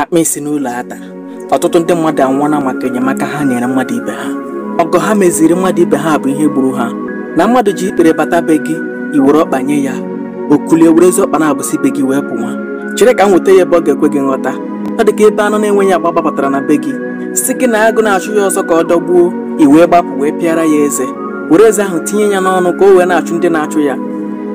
akpa isi n'ụlọ ata ọtụtụ ndị mmadụ anwụọla maka enyemaka ha nyere mmadụ ibe ha ọgọ ha meziri mmadụ ibe ha bụ ihe gburu ha na mmadụ ji ikpere bata be gị i were ọkpa nye ya o kulie were ezi ọkpa na-abụsị be gị wee pụwa chere ka m weta ya ebe ọ ga-ekwe gị nghọta ọ dị ka ebe anụ na-enweghị agba gbabatara na be gị sị gị na agụ na-achụ ya ọsọ ka ọ dọgbuo i wee gbapụ wee pịara ya eze were eze ahụ tinye ya n'ọnụ ka o wee na-achụ ndị na-achụ ya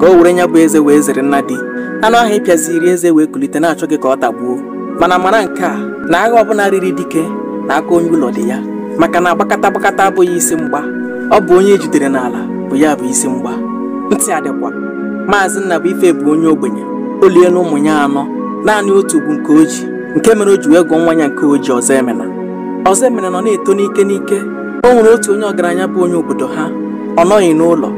ka o were ya bụ eze wee zere nna di anụ ahụ ị pịaziri eze wee kulite na-achọ gị ka ọ tagbuo mana mara nke a na agha ọbụla riri dike na aka onye ụlọ dị ya maka na agbakata agbakata abụghị isi mgba ọ bụ onye e jidere n'ala bụ ya bụ isi mgba ntị adịkwa maazị Nnabuife bụ onye ogbenye o liela ụmụ ya anọ naanị otu bụ nke o ji nke mere o ji wee gụọ nwa ya nke o ji Ọzọemena Ọzọemena nọ na-eto n'ike n'ike o nwere otu onye ọgaranya bụ onye obodo ha ọ nọghị n'ụlọ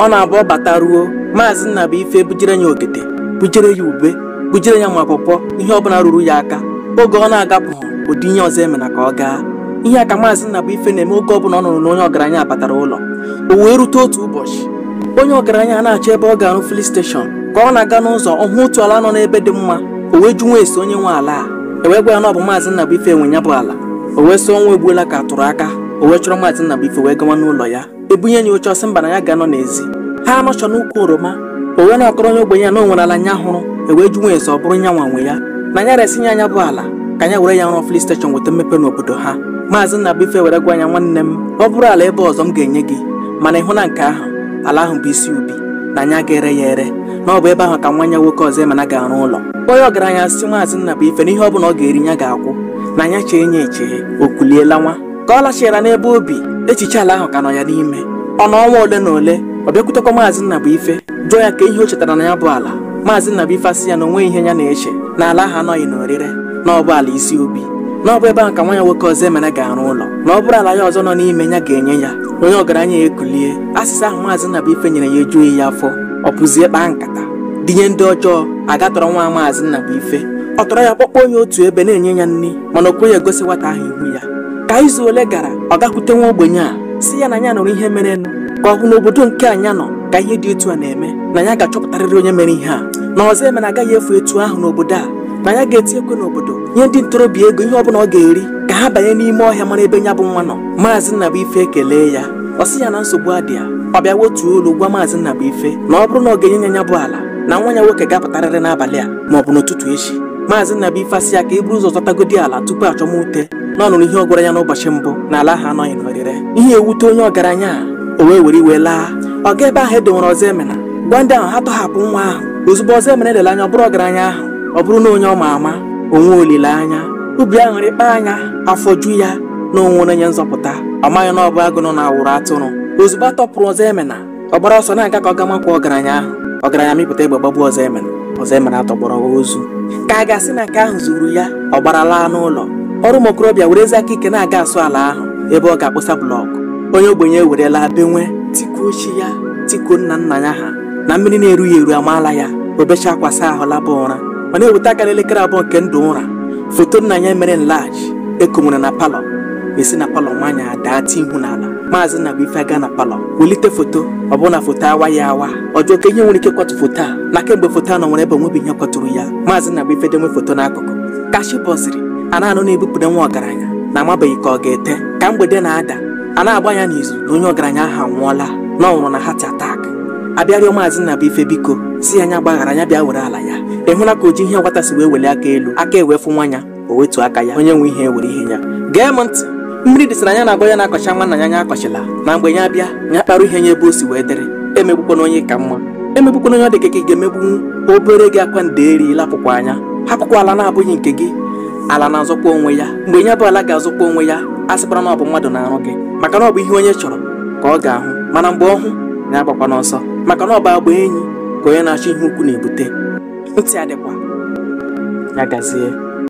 ọ na-abụ ọ bata ruo maazị Nnabuife bujere ya ogede bujere ya ube bujere ya ma pọpọ ihe ọbụla ruru ya aka oge ọ na-agapụ o dinye Ọzọemena ka ọ gaa ihe a ka maazị Nnabuife na-eme oge ọbụla ọ nụrụ na onye ọgaranya batara ụlọ o wee rute otu ụbọchị onye ọgaranya na-achọ ebe ọ ga-arụ filin steshọn ka ọ na-aga n'ụzọ ọ hụ otu ala nọ n'ebe dị mma o wee jụwa ese onye nwe ala a e wee gwa ya na ọ bụ maazị Nnabuife nwe ya bụ ala o wee sị ọnwa egbuola ka a tụrụ aka o wee chọrọ maazị Nnabuife wee gawa n'ụlọ ya e bunye ya oche ọ sị mba na ya ga-anọ n'ezi ha anọchọ n'ukwu oroma o wee na-akọrọ onye ogbenye a na o nwere ala nya hụrụ wee jụwa ese ọ bụrụ nya nwa nwe ya na ya resị ya nya bụ ala ka nya were ya rụọ filin steshọn weta mmepe n'obodo ha maazị Nnabuife were gwa nya nwanne m ọ bụrụ ala ebe ọzọ m ga-enye gị mana ị hụ na nke ahụ ala ahụ bụ isi obi na nya ga-ere ya ere na ọ bụ ebe ahụ ka nwa ya nwoke Ọzọemena ga-arụ ụlọ onye ọgaranya sị maazị Nnabuife na ihe ọ bụla ọ ga-eri ya ga-akwụ na nya chee nya eche o kulie lawa ka ọ lachighara n'ebe o bi echiche ala ahụ ka nọ ya n'ime ọ nọ ọnwa ole na ole ọ bịakwutekwa maazị Nnabuife jụọ ya ka ihe o chetara na ya bụ ala maazị Nnabuife asị ya na o nweghị ihe ya na-eche na ala ahụ anọghị n'orire na ọ bụ ala isi obi na ọ bụ ebe ahụ ka nwa ya nwoke Ọzọemena ga-arụ ụlọ na ọ bụrụ ala ya ọzọ nọ n'ime ya ga-enye ya onye ọgaranya a ekulie azịza ahụ maazị Nnabuife nyere ya ejughị ya afọ ọ pụzie kpaa nkata dinye ndị ọjọọ a ga tọrọ nwa maazị Nnabuife ọ tọrọ ya kpọkpọ onye otu ebe na-enye ya nri mana o kweghị egosi nwata ahụ ihu ya ka izu ole gara ọ gakwute nwa ogbenye a sị ya na ya nụrụ ihe merenụ ka ọ hụ n'obodo nke nya nọ ka ihe dị etu a na-eme na ya ga-achọpụtarịrị onye mere ihe a na Ọzọemena agaghị efu etu ahụ n'obodo a na ya ga-eti ekwe n'obodo nye ndị ntorobịa ego ihe ọbụla ọ ga-eri ka ha banye n'ime ọhịa mara ebe ya bụ nwa nọ maazị Nnabuife ekelee ya ọ sị ya na nsogbu adịghị ya ọ bịa wetuo olu gwa maazị Nnabuife na ọ bụrụ na ọ ga-enye ya ya bụ ala na nwa ya nwoke ga-apụtarịrị n'abalị a ma ọ bụ n'ụtụtụ echi maazị Nnabuife asị ya ka e buru ụzọ zọtagodi ala tupu a chọwa ute na ọ nụrụ ihe ọ gwara ya n'ụbọchị mbụ na ala ahụ anọghị n'orire ihe ewute onye ọgaranya a o wee were iwe laa ọ ga ebe ahụ e donwere Ọzọemena gwa ndị ahụ ha tọhapụ nwa ahụ ozugbo Ọzọemena elele anya ọ bụrụ ọgaranya ahụ ọ bụrụ na onye ọ ma ama o nwee olileanya obi aṅụrị kpa anya afọ ju ya na o nwere onye nzọpụta ọ maghị na ọ bụ agụ nọ na awụrụ atụrụ ozugbo a tọpụrụ Ọzọemena ọ gbara ọsọ na-aga ka ọ ga makwa ọgaranya ahụ ọgaranya mịpụta egbe gbagbuo Ọzọemena Ọzọemena atọgbọrọ ozu ka a ga-asị na nke ahụ zuru ya ọ gbara laa n'ụlọ ọrụ ụmụ okorobịa were ezi aka ike na-aga asụ ala ahụ ebe ọ ga-akpụsa blọkụ onye ogbenye ewerela benwe tikuo chi ya tikuo nna nna ya ha na mmiri na-erughị ya eru amaala ya o bechaa akwa saa ahụ laba ụra ọ na-eweta aka n'elekere abụọ nke ndụ ụra foto nna ya mere enlarge e konwere na palọ esi na palọ nwaanyị adaa ti ihu n'ala maazị Nnabuife aga na palọ welite foto ọ bụrụ na foto awaa awa ọ jụọ kee ihe nwere ike kwatu foto a na kemgbe foto a nọnwere ebe o nwebeghị ihe kwaturu ya maazị Nnabuife denwe foto n'akụkụ ka chi bọziri a na-anụ na-ebupụta nwa ọgaranya na amabeghị ka ọ ga-ete ka mgbede na-ada a na-agba ya n'izu na onye ọgaranya ahụ anwụọla na ọ nwụrụ na heart attack a bịa rịọ maazị Nnabuife biko sị ya nya gbaghara ya bịa were ala ya ị hụla ka oji ihe nwata si wee welie aka elu aka ewee fụnwa ya o wetu aka ya onye nwe ihe were ihe ya gee m ntị mmiri dịsịrị anya na-agba ya na-akọcha nwanna ya anya akọchila na mgbe ya bịa ya kparụ ihe ya ebe o si wee dịrị emegbukwana onye ị ka mma emegbukwana onye ọ dị ka gị ga-emegbunwu o bere gị akwa ndeeri lepụkwa anya hapụkwa ala na-abụghị nke gị ala na-azọkwa onwe ya mgbe ya bụ ala ga-azọkwa onwe ya asịkwala na ọ bụ mmadụ na-arụ gị maka na ọ bụ ihe onye chọrọ ka ọ ga-ahụ mana mgbe ọ hụ ya agbakwana ọsọ maka na ọ bụ agba enyi ka onye na-achọ ihe ukwu na-ebute ntị adịkwa ya gazie